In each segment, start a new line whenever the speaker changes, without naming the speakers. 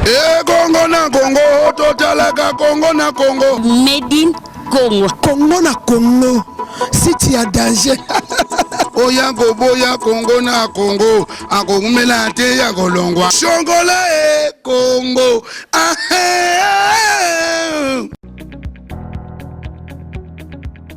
ekongo na kongo totalaka kongo na kongo medin
kongo kongo na
kongo siti ya danger oya
koboya kongo na kongo akokumela te ya kolongwa songola e kongo ahe ah, eh, eh, eh.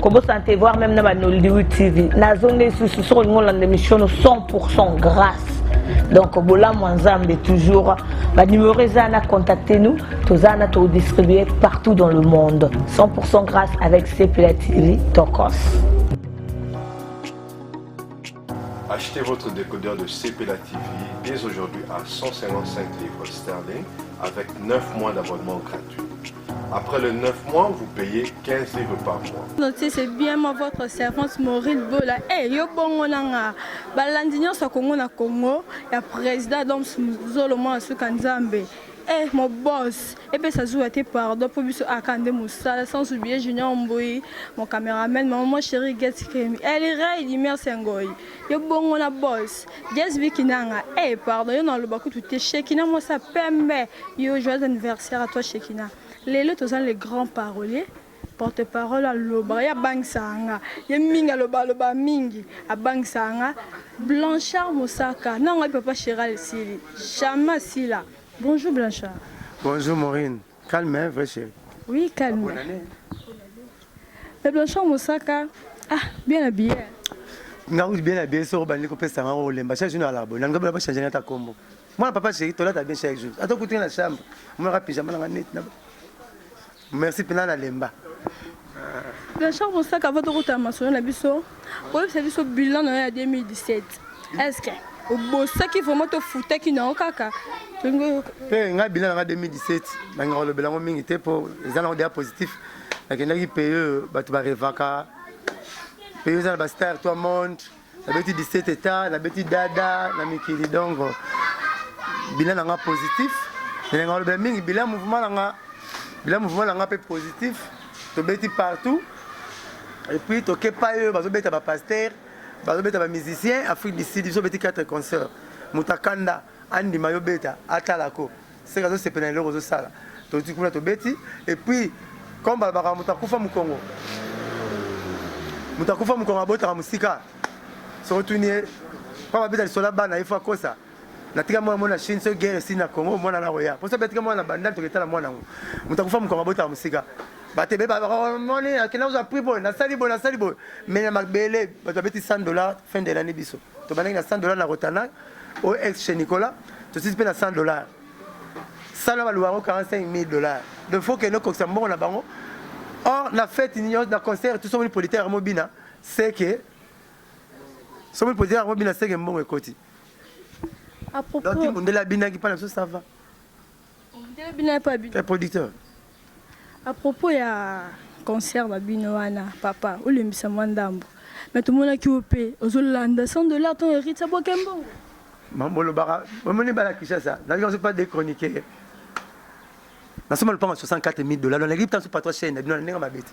kobosana te voir même na ba nollywood tv nazongi lisusu soki olingi olanda émission no 100 grâce donc bolamu ya nzambe toujours banumero eza na contacte nous toza na todistribue partout dans le monde 100 grâce avec cpla tv tokos
Achetez votre décodeur de CPLA TV dès aujourd'hui à 155 livres sterling avec 9 mois d'abonnement gratuit. Après le 9 mois, vous payez 15 livres par mois. Notez, c'est bien moi,
votre servante Maureen Bola. Eh, hey, yo bongo nanga. Balandi nyonso Congo na Congo, ya président Dom Zolo Mwana Suka Nzambe. Eh, mon boss, epesa zuwa te pardon mpo biso aka nde mosala sans oublier junior mbui mon cameraman maman moi chérie get kemi elirei dimers ya ngoi yo bongo na boss jes biki nanga eh pardon yo naloba kutu te shekina mwasi ya pembe yo joyeux anniversaire à toi shekina lelo tozali le grand parolier porte parole alobaka ye abangisaka nga ye mingi aloba aloba mingi abangisaka nga blanchard mosaka na ngai papa cheral esili jamais asila bonjour blanchard bonjour maurine
calme hein, vrai chéri oui calme
mais blanchard mosaka ah bien habillé nga kuti
bien habillé soko bandi kopesa nga olemba chaque jour na alabo na ndobo na bachange nga ta kombo mwana papa chéri tolata bien chaque jour ata okuti nga na chambre monaka pyjama na nga neti na Merci pena na lemba.
Blanchard Mosaka avant tokota masolo na biso oyebisa biso bilan na yo ya 2017 est-ce que obosaki vraiment tofutaki na yo kaka mpe
ngai bilan na ngai 2017 nangaka kolobela yango mingi te mpo eza nango deja positif nakendaki pays oyo bato barevaka pays oyo eza na bastar toi monde nabeti 17 etat nabeti dada na mikili donc bilan na nga positif ndenge nga olobela mingi bilan mouvement na nga bilan mouvement na nga mpe positif tobeti partout et puis toke pa oyo bazobeta bapaster bazobeta bamusicien afrique du sud biso obeti 4 concert moto akanda andima yo beta atalako seke azosepela na eloko ozosala toti kuna tobeti epuis comme balobaka moto akufa mokongo moto akufa mokongo abotaka mosika soki otuni ye mpo babeta lisola bana ye fo akosa natika mwana mwana chine soki guerre esili na congo mwana na koya mpo soki atika mwana na bandal toketala mwana yango moto akufa mokongo abotaka mosika bato beba moni akenda kozwa prix boye nasali boye nasali boye mai na mabele bato babeti 100 dollar fin de lannée biso tobandaki na 100 dollars na Rotana au ex chez Nicolas tosisi mpe na 100 dollars sala baluka yango 45 000 dollars donc faut kende kokisa mbongo na bango or na fete nyonso na concert tout somoni politaire yango bina seke somoni politaire yango bina seke mbongo ekoti
donc mundele abinaki mpa na
biso ça va Mbele
bino ya pabi. Ya producteur.
A
propos ya concert ba bino wana papa olembisa mwa ndambo mais tomonaki yo mpe ozolanda 100 dollars ton hérite aboke mbongo mambolobaka
omoni bana kinshasa nayoki nazo pas dechroniquer nasomba lopango ya 64 000 dollars naleki ntanso patro chaine na bino na ndenge mabe te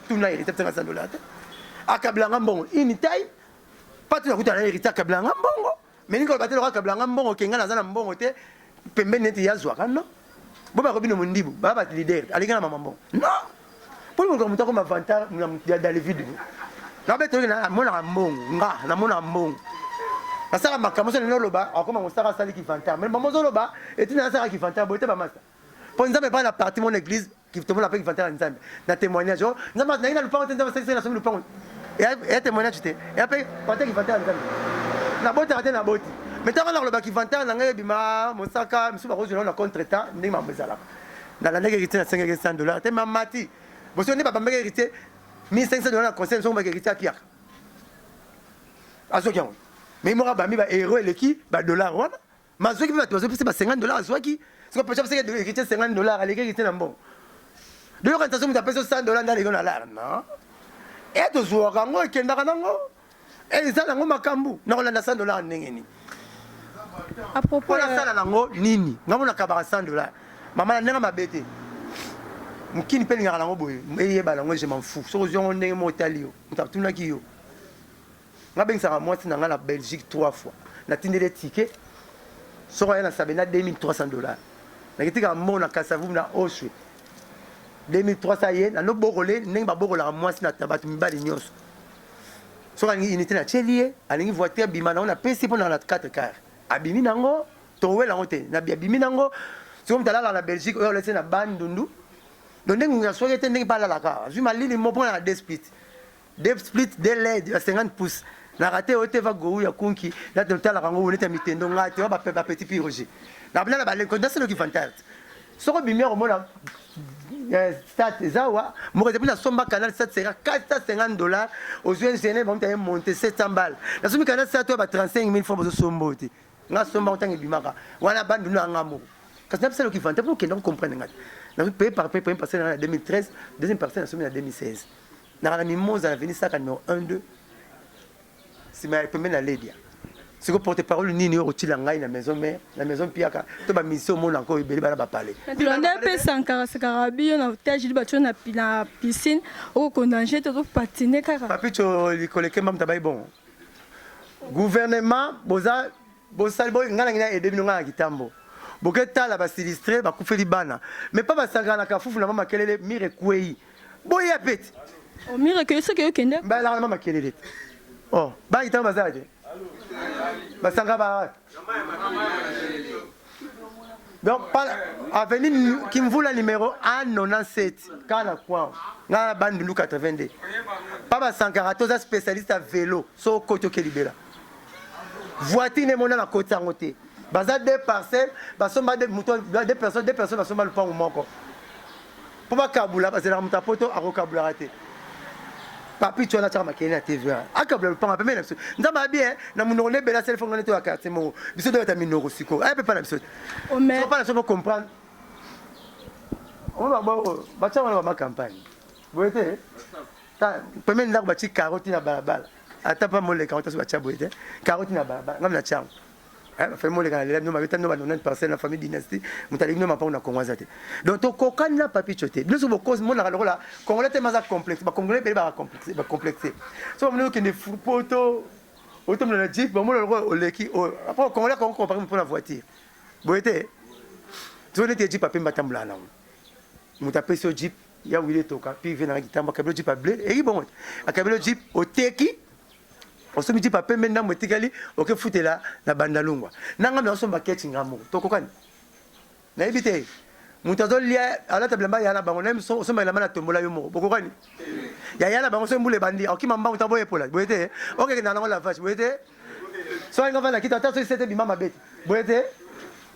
tuna heritier tanga za dola te akabla nga mbongo ini tai patu na kuta na heritier akabla nga mbongo mais niko batela kwa akabla nga mbongo kenga na za na mbongo te pembeni neti ya zwa kano bo ba ko bino mundibu ba ba leader alinga na mama mbongo non po ko muta ko mavanta na ya David na beto na mona mbongo nga na mona mbongo nasala makambo so lelo oloba akoma kosaka asali kivantare me bamozoloba etina nasaka kivantare boye te bamasa Po nzambe epa na parti mon eglise tomona pe inventaire ya nzambe na temoignage oh nzambe naina lupango te nzambe asalisa na somi lupango ya temoignage te ya pe pate inventaire ya nzambe na bota te na boti mais tango na koloba inventaire na ngai ebima mosaka misusu bakozwela na contre temps ndenge mambo ezalaka na landaki héritier na sengaki 100 dollars te mamati boso nde babambaki héritier 1500 dollars na conseil soki mbaki héritier akiaka azoki yango mais moko abambi ba héros eleki ba dollars wana Mais azuaki pe batu bazo pesa ba 50 dollars azuaki. Siko pecha pesa ke héritier 50 dollars aleki héritier na mbongo. Bino kanisa soki mutu apesa 100 dollars nde aleki na lar non. E eh, tozuaka yango ekendaka nango. E eh, eza nango makambu na kolanda 100 dollars ndenge nini?
A propos na sala nango
nini? Ngambo na kabaka 100 dollars. Mama na ndenge mabe te. Mukini pe lingaka nango boye. Eyeba nango je m'en fous. Soko ziongo ndenge mo otali yo. Mutu atunaki yo. Nga bengisaka mwasi na nga na Belgique trois fois. Na tindeli ye ticket. Soko aya na Sabena 2300 dollars. Na kitika mona Kasavubu na Oshwe. 2300 ye na no bokole ndenge ba bokolaka mwasi na tabatu mibali nyonso. Soko alingi unité na tieli ye, alingi voiture bima na ngo na pesi pona na 4 car. Abimi na ngo, towela ngo te. Na abimi na ngo. Soko mtalala na Belgique oyo olese na bandundu. Donde ngungu ya soki te ndenge pa alalaka. Azui malili mo pona na despite. Dep split de led ya 50 pouces na rate yo te va gou ya kunki na te tala kango wonete ya mitendo nga te ba ba petit piroge na bana ba le contest le kivantart soko bimi ya komona eh, stat eza wa moko ezepi nasomba canal 450 dollars ozwi ingénieur bamuti aye monte 700 bale nasombi canal 7 ya ba 35 000 francs bozosomba oyo te nga somba ntango ebimaka wana bandu na nga moko kasi na bisala okivante mpo okenda kocomprendre nga te nazopaye par paye premier parcelle na 2013 deuxième parcelle nasombi na 2016 naka na mimoza na veni saka numero 1 2 sima ya pembe na ledia siko porte parole nini oyo okotila ngai na maison mère na maison mpiaka to ba musicien omona yango ebele bana bapale blonde mpe
sankara sakara biyo na tajili batyo na pi- na piscine okokondange te ozopatine kaka papicho likoleke
mamta bai bon gouvernement boza bosali bo ngai nangi na aide bino ngai na kitambo boketala basilistre bakufeli bana mais pa basanganaka fufu na mama kelele mire ekwei boya peti omire ke
soki okende balaka na makelele te
oh baki ntango bazala te basanga ba donc avenue kimvula numéro 197 kaka na kwao ngai na bandundu 82 pa basankaka toza spécialiste ya vélo so okoti oke libela voiture nde emonana koti yango te baza deux parcelles basomba moto deux personnes deux personnes basomba lupango moko mpo bakabula bazalaka moto ya poto akokabulaka te papicho wana atyaka makelele na tv wana akabula lopanga pembeni na biso nzambe abi eh, na monoko nde ebele asali fongo nde toya quartier moko biso toyata minoko sikoyo aya mpe mpa na biso te mpa na biso
mpo
comprendre oyo baboko batya wana bama campagne boye te pembeni ndako batyi karoti na balabala ata mpa moleka yango taso batya boye te karoti na balabala ngami na tyango Eh, na famille moleka na lela bino mabeta bino ba 90 parcelle na famille dynastie moto aleki bino mapango na kongo aza te donc tokokani na papicho te bino soki bokozi monaka lokola congolais te maza complexe bacongolais ebele bacomplexe so bamoni okende poto otomona na jeep bamona lokola oleki oyo oh, apres congolais akongo compare mpo na voiture boye te soki neti jeep apemba atambolaka nango moto apesi yo jeep ya wile toka pive nanga kitamba akabelo jeep ya ble eki bongo te akabelo jeep oteki osombi jipa pembe ndambo etikali okefutela na bandalungwa nanga meosomba kechi nga moko tokokani nayebi te moto azolia alata bilamba ya na bango naye osomba elamba na tombola yo moko bokokani ya ya na bango soki mbula ebandi akima mbango ta boyepola boye te okekenda nango lavage boye te soki nga vanda kita ata soki sete bima mabe te boye te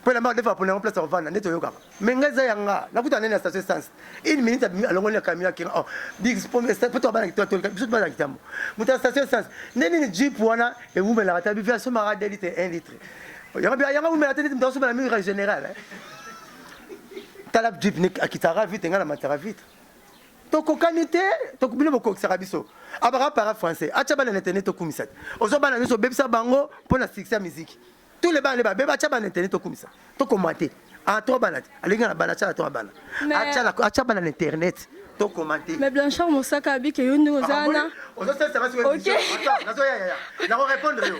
mpo elamba adefa apona yango place akovanda nde toyokaka me ngai eza ya nga nakuta nene ya station essence une minute alongoli na camion akena oh, mpo tobanaki tolika biso tobana kitambo moto ya station essence nde nini jeep wana ewumelaka ta bivi asomaka 2 litre 1 litre yango yango awumela te neti moto asomela mingi ka général tala jeep akitaka vite ngai na mataka vite tokokani te bino bokokisaka biso abaka para français atya bana na internet tokumisa te ozwa bana nyonso obebisa bango mpo na succès ya miziki tous les bana nde babeba atya bana na internet tokumisa tokoma te a ah, trois bana te alingi na bana atya na trois bana atya bana na internet tokoma te mais blanchard mosaka
abike yo ndenge
oza
wana
ozosalisa kasi nazoyayaya nakorepondre yo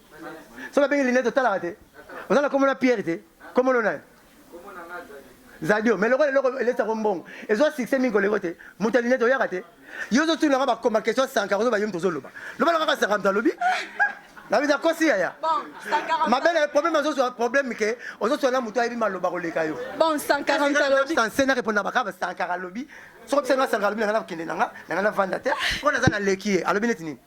soki abengi linete otalaka te oza na kombo na pierre te kombo no nani zadio mais lokola eloko elesa ko mbongo ezwa succès mingi koleko te moto ya linete oyaka te yo ozotuna nga bakoma question sanka ozoba yo moto ozoloba lobala kaka sanka moto alobi nabisa kosi yaya mabele problème azozwa problème ke ozozwa na moto ayebi maloba koleka yo bon sankara
ntalobi sanse na répondre baka
ba sankara alobi soko bisenga sankara alobi nanga na kokende nanga nanga na vanda te mpo naza na leki ye alobi neti nini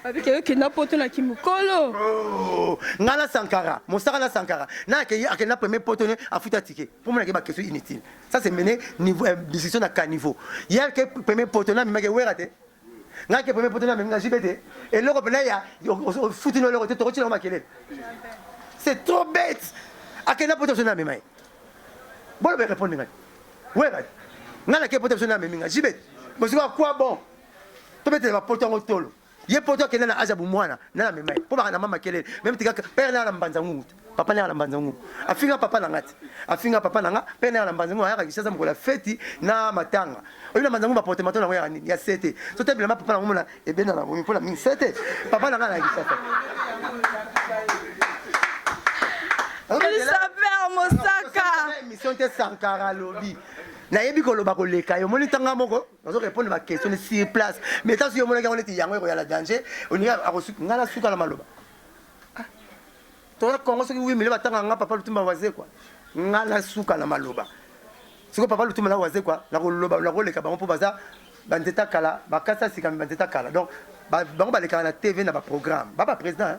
Babike yo kenda
poto na kimukolo. Oh,
nga na Sankara, mosaka na Sankara. Na akei akenda premier poto ne afuta ticket. Pour moi na ba question inutile. Ça c'est mené niveau euh, discussion na caniveau. Hier ke premier poto na mimake wera te. Nga ke premier poto na mimaka jibete. Et loko pena ya futi no loko te tokoti na makelele. C'est trop bête. Akenda poto na mimake. Bolo be répondre ngai. Wera. Nga na ke poto na mimaka jibete. Bosiko quoi bon? tobetela bapoto yango tolo ye poto akenda na aza bomwana nana mema ye mpo baka na mama kelele meme tika pere nanga na mbanza ngungu te papa nanga na mbanza ngungu afinga papa nanga te afinga papa nanga pere nanga na mbanza ngungu ayaka kisasa mokolo ya feti na matanga oyebi na mbanza ngungu baporte mato nango yaka nini ya sete so te bilamba papa nango mona ebenda na bomi mpo na mingi sete papa nanga na kisasa Christopher
Mosaka. Mission te Sankara
lobi. Nayebi koloba koleka yo. Moni tanga moko. bazo répondre ba question ni sur place mais tanso yo monaki yango neti yango ekoya na danger olingi akosuki ngai nasuka na maloba ah. toza congo soki wi mile batanga nga papa lutumba waze kwa ngai nasuka na maloba sikoyo papa lutumba na waze kwa nakoloba nakoleka bango mpo baza banzeta kala bakasi asikami banzeta kala donc bango balekaka na tv na baprogramme ba baprésident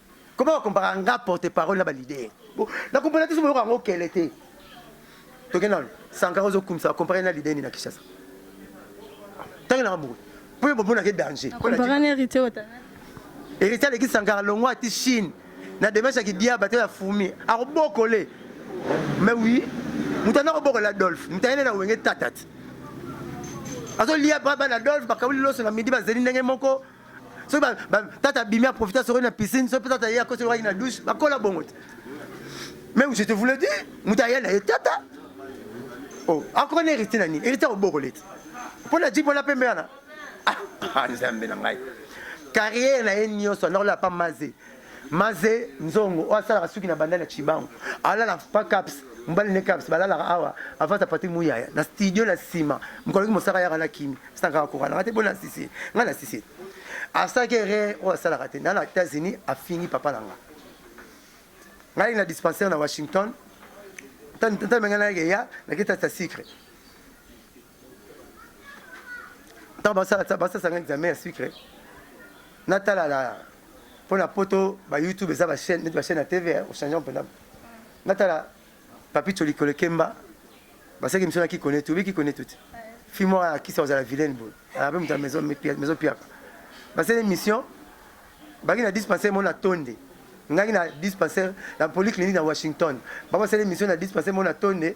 Comment on compare nga porte-parole na ba leader Bon, na compare te sobo yango kele te. Tokenda wana. Sankara ozo kumisa compare na leader ni na Kinshasa. Tangi na maboko. Pour bo bona ke danger. Compare na hérité ota. Hérité aleki Sankara longwa ti Chine. Na demeche ya kidia bato ya fumi. Akobokole. Mais oui, mutana kobokola Adolphe. Mutana na wenge tatat. Azo lia baba na Adolphe bakawuli loso na midi bazeli ndenge moko. soki ba, ba, tata abimi aprofite asokoli na piscine soki mpe tata ye akosi lokaki na douche bakola bongo te mais je te voulais dire moto aya na ye tata oh, akoka na héritier na nini héritier akobokole te mpo na jipo na pembe wana ah, ah, nzambe na ngai carrière na ye nyonso anakolela pa maze Maze nzongo oyo asalaka suki na bandali ya Chibangu alala pa caps mobali ne caps balalaka awa avata pati muyaya na studio na nsima mokoloki mosaka yaka na kimi sitankaka kokanaka te bona sisi ngai na sisi asalaki erreur oyo asalaka te na na États-Unis afingi papa na nga ngai na dispensaire na Washington ntango ngai nayaki eya naketasa sucre ntango basasanga examen ya sucre natala na mpo na poto ba youtube eza bachaine neti bachaine ya tv ochange mpenza natala papicho likolo kemba basaki miso na kikonetu obi kikonetu te fi moko akisa kozala vilaine boye ape moto ya maison piaka basali émission baki na dispensaire moko na tonde ngaki na dispensaire na polyclinique na washington bango basali émission na dispensaire moko na tonde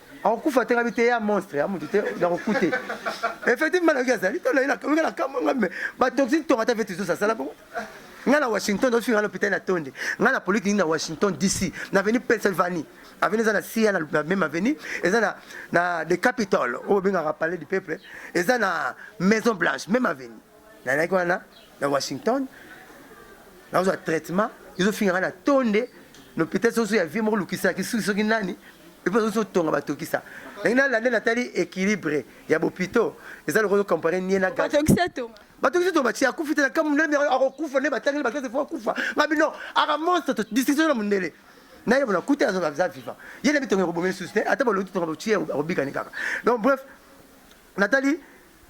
akokufa te ngabi te ya monstre ya mutu te nakokute effectivement nayoki azali toloyinga na kamwe nga me batoxine tonga ata veti zosa asala bongo nga na washington ofinga nga lopitai na tonde nga na poliki nini na washington dc na aveni pennsylvanie aveni eza na cia na meme aveni eza na, na the capital oyo obengaka palais du peuple eza na maison blanche meme aveni Nazalaki wana na Washington, nazwa traitement, ezofinga nga na tonde na hôpital soso ya vie moko lukisa kisuki soki nani epo soso tonga batokisa ndenge nalande natali équilibre ya bopito eza lokola comparer nie na batokisa to batokisa to batia akufi te na kamu ndele mira akokufa nde batangeli bakese fo akufa ngabi non aka monstre to discussion na mundele naye bona kuta azo aza viva ye na bitonga ekobomeli susu te ata balobi tonga botie akobika ni kaka donc bref Natali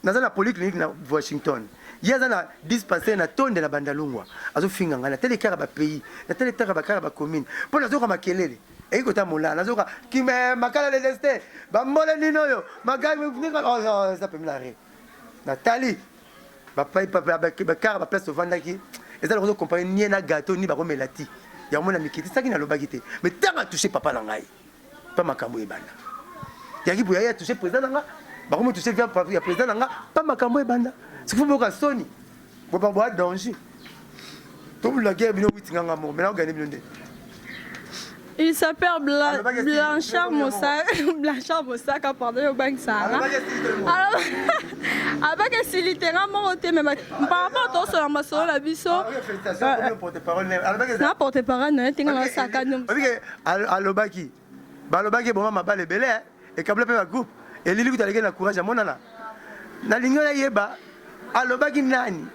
naza na polyclinique na Washington ye aza na dispensaire na tonde na bandalungwa azofinga ngai natali kaka ba pays natali taka ba kaka ba commune mpo nazoka makelele eki kota mola nazoka kime eh, makala le destin bambole nini oyo magai oh, oh, eza pembe na re natali bakara baplace tovandaki eza lokozo kompare nie na gato ni bakomela ti yango mona mikitisaki nalobaki te me ntango atouche papa na ngai pa makambo ebanda yaki boya ya touche président nanga bakomi touche via ya président nanga pa makambo ebanda sifu boka soni boba boa danger tobula guerre bino witi nganga moko mena ogane bino nde
Il s'appelle Bla ah, Blanchard Moussa, Blanchard Moussa, quand pardon, au banque Sahara. Alors, avec un silitera, mon côté, mais par rapport à toi, ma soeur, la biso. Ah, euh, euh, na porte-parole, na tinga na saka. Alobaki
balobaki eboma mabala ebele eh. ekabla mpe bagroupe elili kutu alekeli na courage amonana nalingi oyo ayeba alobaki nani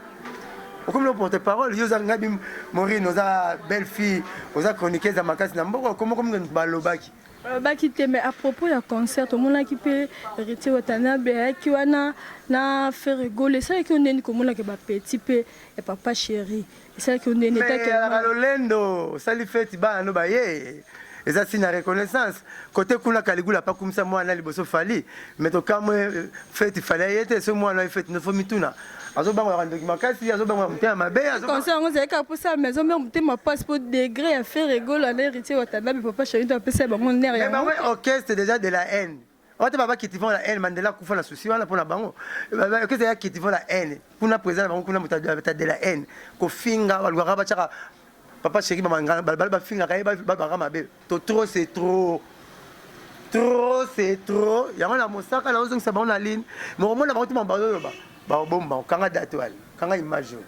okomi na porte parole yo oza ngabi morine oza belle fille oza chroniqueuse ya makasi na mboka okomi okomi balobaki balobaki te
mais à propos ya concert tomonaki mpe héritier watanabe ayaki wana na ferre gole esalaki yo ndeni komonaka bapetit mpe ya papa chéri esalaki onene takelaka lolendo osali
feti bana no baye eza signe ya reconnaissance kote kuna kaligula apakumisa mwana liboso fali me tokamwe euh, feti fali aye te so mwana ye feti nofo mituna azobangolaka ndoki makasi azobangolaka motema mabe conseil yango ezalaki kaka mposa
mais azomema motema mpasi mpo degre ya fere egolo ana héritier watanabe papa sharito apesa ya bango nere yango orchestre déjà
de la haine Wata baba qui vont la haine Mandela kufa na souci wana pona bango. Baba que c'est qui vont la haine. Kuna président na bango kuna muta de la haine. Ko finga ba lugaka ba chaka papa chéri ba mangana ba ba finga ka ba ba ba mabe. To trop c'est trop. Trop c'est trop. Yango na mosaka na ozongisa bango na ligne. Mo komona bango tuma ba loba. Ba bomba kanga date wale. Kanga image wale.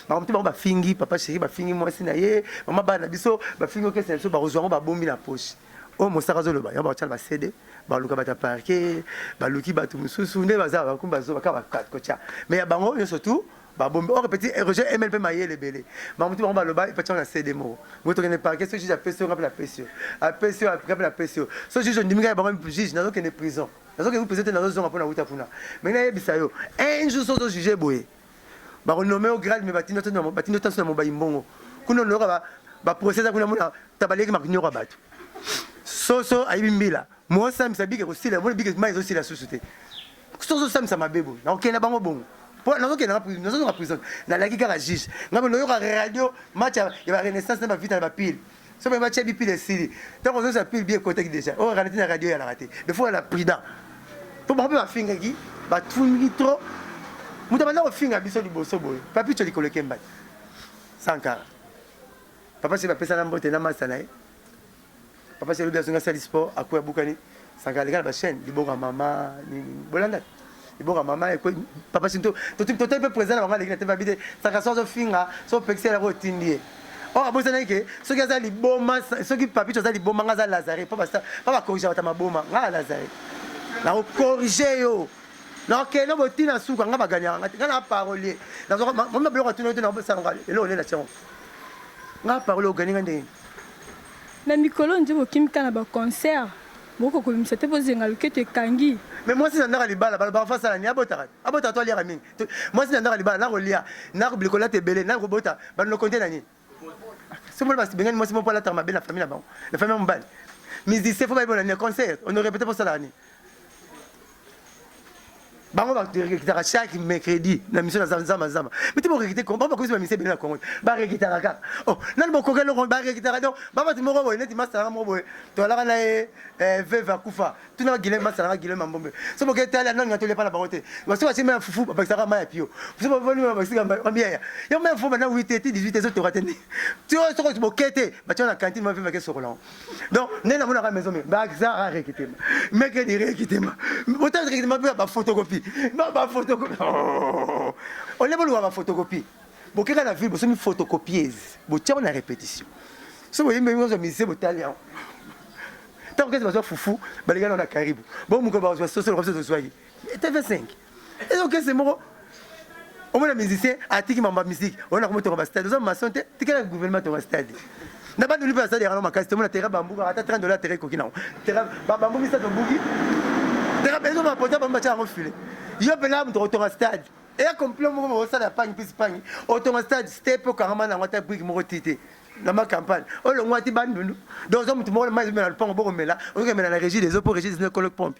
makambo te bango bafingi papa chéri bafingi mwasi na ye mama bana biso bafingi okesa na biso bakozwa yango babombi na poche oyo mosaka azoloba yango bakotya na basede baluka bato ya parke baluki bato mosusu nde baza bakomi bazoba kaka bakati kotya mai ya bango nyonso tu babombi or petit roger emel mpe mayele ebele bamotu bango baloba epatyango na cd moko moto okende parke so juge apesi yo ngai mpe napesi yo apesi yo ngai mpe napesi yo so juge ondimi ngai bango juge nazokende prison nazokende prison te nazozonga mpo nauta kuna mai nayebisa yo un jour so ozojuge boye Bako nomme yo grade mais batinda to na batinda to na mobayi mbongo. Kuna loka ba ba procès za kuna mona tabaleki makinyoka bato. Soso ayibi mbila. Mo sambisa bike ko sila mona bike mai zo sila susu te. Soso sambisa mabebo. Na okenda bango bongo. Po na okenda na prison, na zo na prison. Na laki kaka juge. Ngabo loyoka radio match ya ba renaissance na ba vita na ba pile. soki ba tchebi pile esili donc ozo sa pile bien kotaki déjà oh ralenti na radio ya la raté mais faut la prudent pour ba ba finga ki ba tungi trop mutu banda ko finga biso liboso boye papi tcholi koleke mbali sankara papa c'est ba pesa na mbote na masta na ye papa c'est le bien zonga sali sport akuya bukani Saka aleka na ba chaîne liboka mama nini bolanda liboka mama ekwe papa sinto totik totai pe président na bango aleki na tebe abite saka so azofinga so opekisi elaka otindi ye or oh, abosanaki ke soki aza liboma soki papicho aza liboma nga aza lazare po bakorrige bata maboma nga ya lazare nakokorrige yo nakokende botina suka nga baganyaka nga te nga na parolier nazokomona biloko atuna yo te nakosalanga eloko nde na tiango nga parolier ogani nga ndenge Na
mikolo nje bokimi kaka na ba concert boko kobimisa te po zenga loketo ekangi. Mais mwasi na ndaka
libala baloba enfant asala nini abotaka abotaka to aliaka mingi mwasi na ndaka libala na kolia na ko bikolata ebele na kobota ba nokonte na nini soki mona basi bengani mwasi moko alataka mabe na famille na bango na famille ya mobali musicien fo bayebona nini concert on ne répète pas osalaka nini bango barekitaka chaque mercredi na mission na zama zama miti borekite bango bakomisi bamise ebele na congo barekitaka kaka o oh, nani bokoki eloko barekitaka donc babati moko boye neti masanga moko boye tolaka na ye eh, veve akufa tuna gile masalaka gile mambombe so boke etali anani atoli epa na bango te baso basi mai ya fufu babakisaka mai ya pio so bavoni babakisaka bamiyaya yo mai ya fufu bana 8 te 18 te ezotoka te nde ti soki boke te batia na kantine maveve ake sokolango donc nde namonaka maison mire baza rare kitema meke dire kitema botala kitema mpe bafotokopi bafotokopi oh. ole boluka bafotokopi bokeka na ville bosomi photocopiese botiango na répétition so boyembe nyonso mise botali yango ntango kese bazwa fufu balingana na karibu bo mokolo bazwa sosolo kabisa tozwaki etv 5 Eza okese moko omona musicien atiki mambo ya musique oyo nakomi tonga bastade oza mason te tikala gouvernement tonga stade na bandoli mpe basali yango makasi tomona terrain bambuka ata 30 dollars terrain ekoki nango terrain bambu misato obuki terrain ezo bapota bango batya yango file yo mpena moto otonga stade eya complot moko bokosala ya pangi mpisi pangi otonga stade ste mpe okangama nango ata brike moko ti te na macampagne olongwa ti bandundu donc oza moto moko mai ezomela lopango bokomela ozokemela na régie des eaux mpo régie des eaux ekolo pompe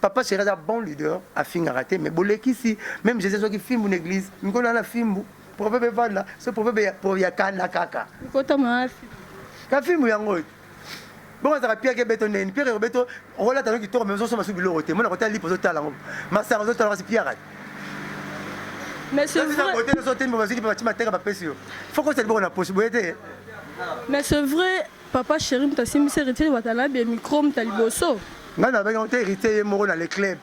Papa Cheri aza bon leader afingaka te mais bolekisi meme Jesus azwaki fimbu na eglise mikolo na fimbu proverbe evanda so proverbe ya, ya kanda kaka mikota mafi
ka fimbu
yango oyo bongo azalaka piake beto ndeni piake kobeto okolata no kitoko mais ozosomba su biloko te mona kotala lipo ozotala yango masanga ozotala kasi piaka te mais c'est
vrai Papa cheri moto asimbisi heritier watanabe ya micro moto ya liboso. ngai nabengi yango te
héritier ye moko na le club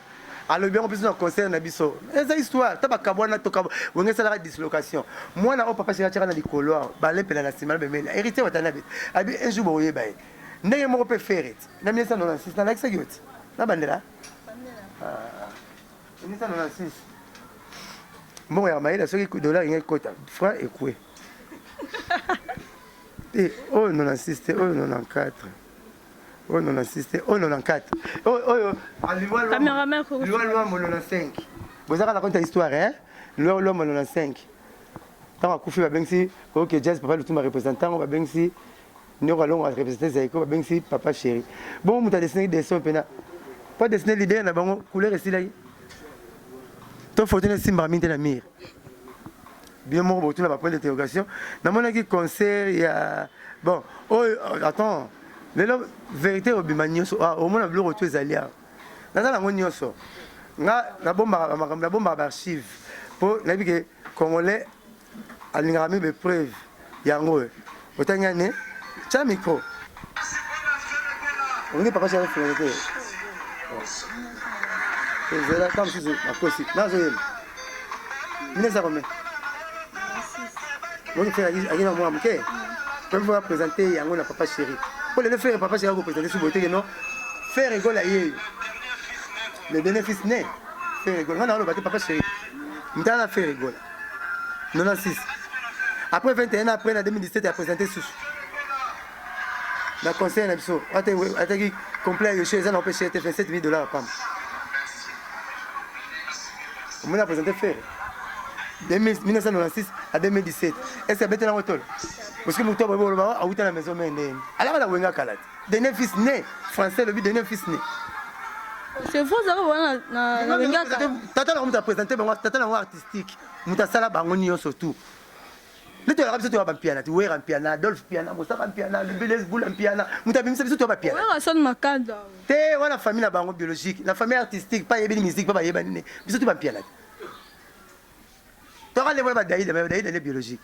alobi yango biso na concert na biso eza histoire ta bakabwana toka wenge esalaka dislocation mwana oyo papa sheri atyaka na likolo awa balempela na nsima na bemeli na héritier watanabe abi un jour bokoyeba ye ndenge moko mpe fere ti na 1996 nalakisaki yo ti na bandela 1996 mbongo ya mayele soki dollar ingai kota franc ekue te oyo 96 te oyo 94 oyo 96 te oyo 94 oyo oyo aliwa
lwambo
95 boza kaka na konta histoire hein liwa lwambo 95 ntango akufi babengisi ok jazz papa lutumba représentant yango babengisi noko alongo arepresente zaiko babengisi papa chéri bongo moto adesinaki dessin mpena mpo adesine leader na bango couleur esilaki to foto na esimbaka mingi te na mire Bino moko botuna ba point d'interrogation. Namonaki concert ya bon oyo oh, attends lelo verite obima nyonso ah, omona biloko tu ezali awa naza nango nyonso nga nabombaka bamakambo nabombaka baarchive mpo nayebi ke congolais alingaka meme baepreuve yango oyo Otangi ane? Tya micro. Olingi papa Charles Ferre te? Ezela kaka mosusu bakosi. Nazoyemba. Mine eza combien? Moni Ferre ayaki na mwa moke. Mpe mpo apresente yango na papa Chéri. Mpo lelo Ferre papa Chéri akopresente suboye te non. Ferre egola yeyo. Le bénéfice ne Ferre egola. Nga na oloba te papa Chéri. Mtala na Ferre egola. 96 après 21 ans après na 2017 ya présente susu na conseil na biso ataki complet ya yoshe eza na opeshe te 27 000 dollars pamba omoni na présente fere 1996 à 2017 est ce que abetela ngo tolo parce que moto aboyi boloba awuta na maison mende alaka na wenga kala te Dene fils né français lobi dene fils né
c'est faux zaka wana na na bengaka tata na moto a présenter
bango tata na bango artistique moto asala bango nyonso tout nde toyaka biso toya bampiana ti wera mpiana adolphe mpiana mosaka mpiana lubiles bula mpiana moto abimisa biso toya bapianaasoni makanda
te wana famille
na bango biologique na famille artistique pa yebini musique pa bayebani ne biso ti bampiana te toka nde wana badaida me badaida nde biologique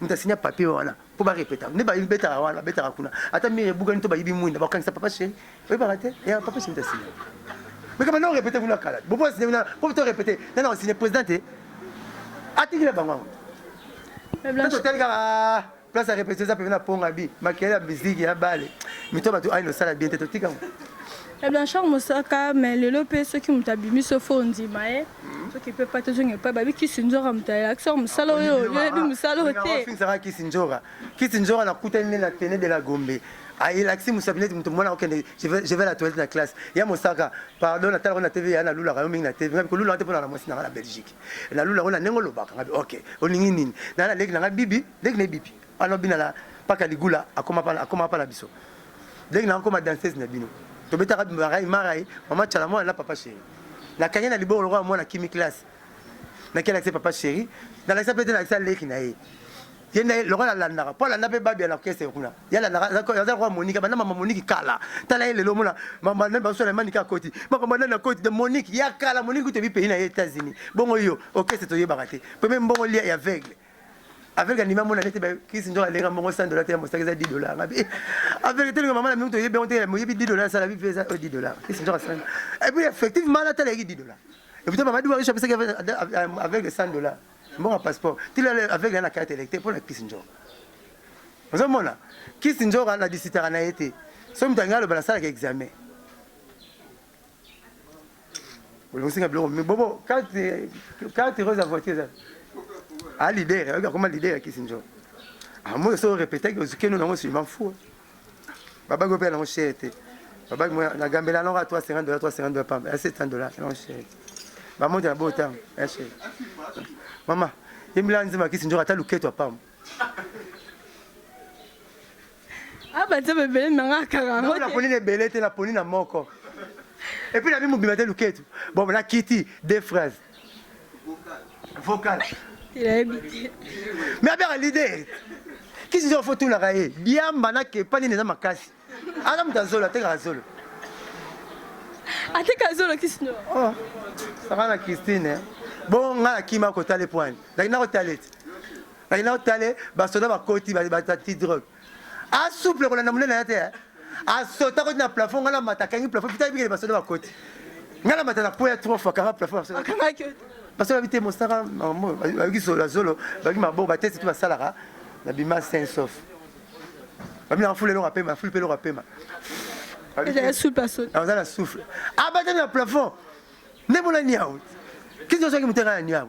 moto asinya papier wana mpo barepeta nde babetaka wana babetaka kuna ata mire ebukani to bayibi mwinda bakangisa papa sheri oyebaka te ya papa sheri moto asinya mekama na orepete kuna kala bobo asinya kuna mpo to repete nana osinya président te atikila bango yango totali kaka place ya repete eza pembe na ponga bi makele ya miziki ya bale mito bato aino osala bien te totika yango Ya
Blanchard Mosaka mais lelo pe soki moto abimi so fo ondima ye soki pe pa tozonga epai babi kisi nzora moto ayelaki so mosala oyo oyebi mosala oyo te finisaka kisi nzora
kisi nzora nakutani nde na tene de la gombe ayelakisi mosapi neti moto mwana okende je vais- je vais la toilette na classe ya mosaka pardon natalaka na tv ya nalulaka yo mingi na tv ngabi kolulaka te mpo naka na mwasi na ngai na belgique nalulaka yo na ndenge olobaka ngabi ok olingi nini naya na leki na ngai bibi leki na ye bibi Wana obina la paka ligula akoma pa akoma pa na biso. Dès que na akoma danseuse na bino. Tobetaka marai marai mama chala mwana la papa chéri. Na kangi na liboko lokola mwana kimi classe. Na kela kise papa chéri. Na lakisa pete na lakisa leki na ye. Ye nde lokola alandaka mpo alanda mpe babi ya na orchestre kuna ye alandaka aza lokola monike banda mama moniki kala tala ye lelo omona mama nani baso na manike akoti makambo nani akoti de moniki ya kala moniki kutu ebipeyi na ye états-unis bongo yo orchestre toyebaka te mpe mpe mbongo lia ya veugle avec anima mona nete ba kisi njo alenga mbongo 100 dollars te ya mosaki eza 10 dollars ngabi eh, avec tele mama na mingi to yebe onte mo yebi 10 dollars sala bi pesa 10 euh, dollars kisi njo asala et puis effectivement la tele 10 dollars et puis mama duwa shopesa avec les 100 dollars mbongo passeport tila avec la carte électeur pour la kisi njo ozomona kisi njo na disitaka na ye te so moto alingi aloba nasalaka examen olongosinga biloko mi bobo carte rose ya voiture eza a leader ayoki akoma leader ya kisi njo amoyo so orepetaki ozukeno nango suivant fou babaki opela nango chere te babaki na gambela nango a 350 dollars 350 dollars pamba ya 700 dollars nango chere bamonte na botango ya chere mama yembela nzima kisi njo ata luketo apamba
Aba nzambe ebele na nga kaka yango te. Naponi na
ebele te, naponi na moko. Et puis nabi mobima te luketu. Bon, na kiti deux phrases. Vocal. Nayebi te.
Mais abia
leader. Kisi nzela faut tunaka ye. Diamba na kepa nini eza makasi. Aza moto azolo, atekaka zolo.
Ateka zolo kisi no. Oh.
Saka na Christine. Bon, nga na kima kotale pwani. Lakini na kotale te. Kati na otale basoda bakoti batati drogue. A souple kolanda munene ya te. Eh. A sota koti na plafond ngala mata kangi plafond pita bikele basoda bakoti. Ngala mata na poya trois fois kanga plafond basoda. Akanga ke. Basoda bite mosaka mambo bayuki solo zolo baki mabo batesi tu basalaka na bima saint sauf. Bami na fule longa pema fule longa pema.
Eza souple aso. Aza na souffle.
Abata na plafond. Nemona niawo. Kizo soki muteka niawo.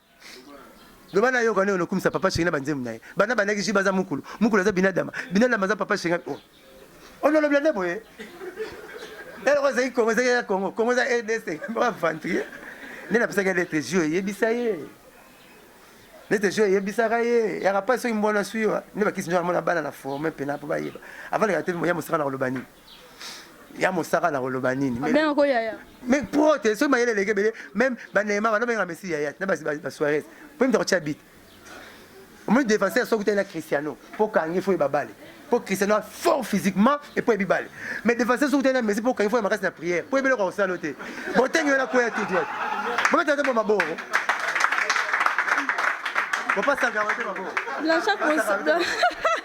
loba na yoka ne onokumisa papa shenge na banzembo na ye bana bandaki ji baza mukulu mukulu aza binadama binadama aza papa shenge oh. onolobela nde boye eloko eh, ezalaki kongo ezalaki ya kongo kongo eza rdc aventurier nde napesaki ya letre jio eyebisa ye nete jio eyebisaka ye yaka mpasi soki mbwana swi yo nde bakisi njo amona bana na forme mpena mpo bayeba avaleka te moya mosaka na koloba nini ya mosaka na koloba nini abenga ko yaya
mais prote soki
mayele eleki ebele meme banema bana benga messi yaya na basuarez mpo mta kotya bit omoni défenseur soki utali na cristiano mpo kangi fo yeba bale mpo cristiano a fort physiquement et mpo yebi bale mais défenseur soki utali na messi mpo kangi fo ya makasi na prière mpo yebeloko akosala te botengi wana koya tout droit bobetaka te mpo maboro bopasaka yango te maboro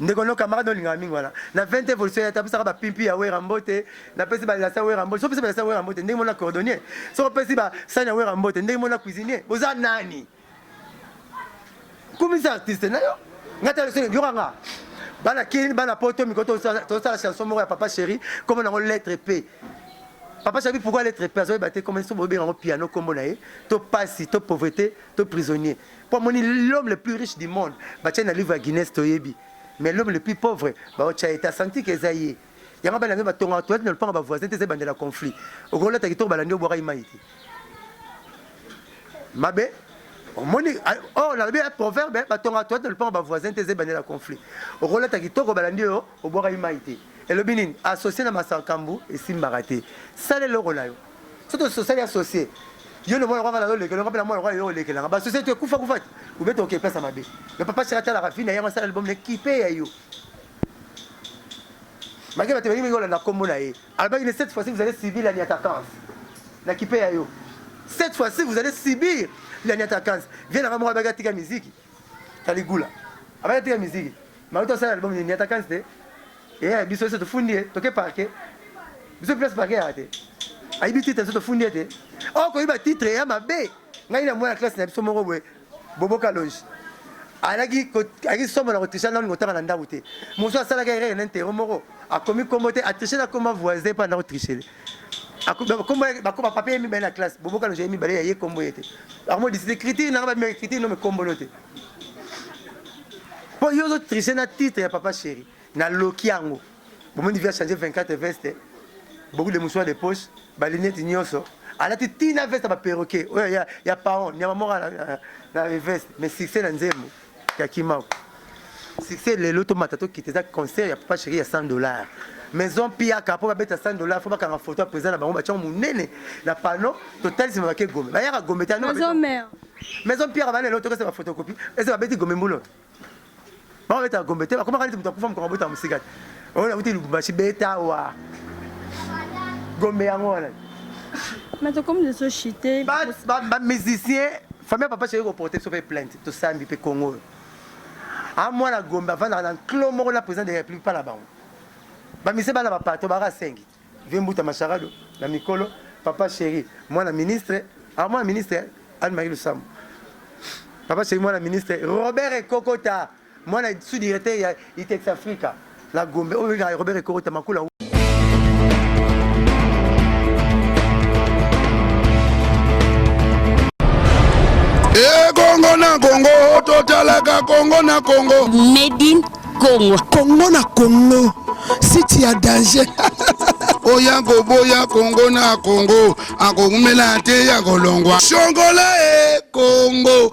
Ndeko no camarade olingaka mingi wana na 20 evolution ya tapesaka ba pimpi ya wera mbote na pesi ba lasa wera mbote so pesi ba lasa wera mbote ndenge mona cordonnier so pesi ba sani ya wera mbote ndenge mona cuisinier boza nani kumisa artiste na yo ngata leso yoka nga bana kin bana poto miko to sala chanson moko ya papa chéri comme nango lettre p papa chéri pourquoi lettre p azoyeba te comme so bobenga ngo piano kombo na ye to pasi to pauvreté to prisonnier mpo amoni l'homme le plus riche du monde batya na livre ya guinness toyebi mais l'homme le plus pauvre baotya ye te asanti ke eza ye yango bana mpe batongaka toilette na lopango bavoisin te eza ebandela conflit okolata kitoko balandi obwakaki mai te mabe omoni or nalobi ya proverbe batongaka toilette na lopango bavoisin te eza ebandela conflit okolata kitoko balandi oyo obwakaki mai te elobi nini associe na masakambu esimbaka te sala eloko na yo soto sosali associe yo le mwana kwanga na lolekela ngape na mwana kwa yo olekela nga ba société ekufa kufa ti ubeta oke pesa mabe le papa chaka tala rafina yango sala album ne kipe ya yo malgré bato balingi olanda kombo na ye alobaki ne cette fois-ci vous allez subir la niatakance na kipe ya yo cette fois-ci vous allez subir la niatakance vie na nga moko abaki atika miziki Caligula. Abaya tika miziki. Maluto asala album ni niata kanzi te. Eh biso se tofundi ye, toke parquet. Biso place parquet ya te. Ayibi titre se tofundi ye te. Oh ko yiba titre ya mabe. Ngai na mwana classe na biso moko boye. Bobo Kalonji. Alaki ko alaki somo na ko tricher na ngotaka na ndaku te. Mosu asalaka erreur na interro moko. Akomi kombo te, a tricher na koma voisin pa na ko tricher. bakoba papier ye mibale na classe boboka loja ye mibale ya ye kombo ye te akomo diside écriture nanga babima écriture no mikombo no te mpo yo ozo triche na titre ya papa chéri na loki yango bomoni via change 24 veste beaucoup de mouchoir de poche balinete nyonso alati tina veste ya baperroquet oyo ya paon nyama moko na veste mais succès na nzembo ya kimako succès lelo tomata tokita eza concert ya papa chéri ya 100 dollars maison piaka mpo babeta 100 dollars fo bakanga foto ya président na bango batyango monene na pano totalisima bake gome bayaka gome te maison
piaka bana
lelo tokesa bafotokopi eza babeti gome mbulo bango babetaka gombe te bakomaka neti moto akufa mokolo abotaka mosika te oyo nakuti lubumbashi beta awa gombe yango wana
bamusicien
famille papa soki koporte biso mpe plainte tosambi mpe congo oyo a mwana gombe avandaka na nklo moko na président de la république mpa na bango bamise bana bapato baka sengi vie mbuta masharado na mikolo papa chéri mwana ministre a mwana ministre anne marie lusambo papa chéri mwana ministre robert ekokota Mwana sous directeur ya Itex Africa na Gombe oyo na Robert Ekorota makula
Kongo na Kongo totalaka Kongo na Kongo Made in
Kongo Kongo na
Kongo site ya danger oya
koboya kongo na kongo akokumela te ya kolongwa shongola e kongo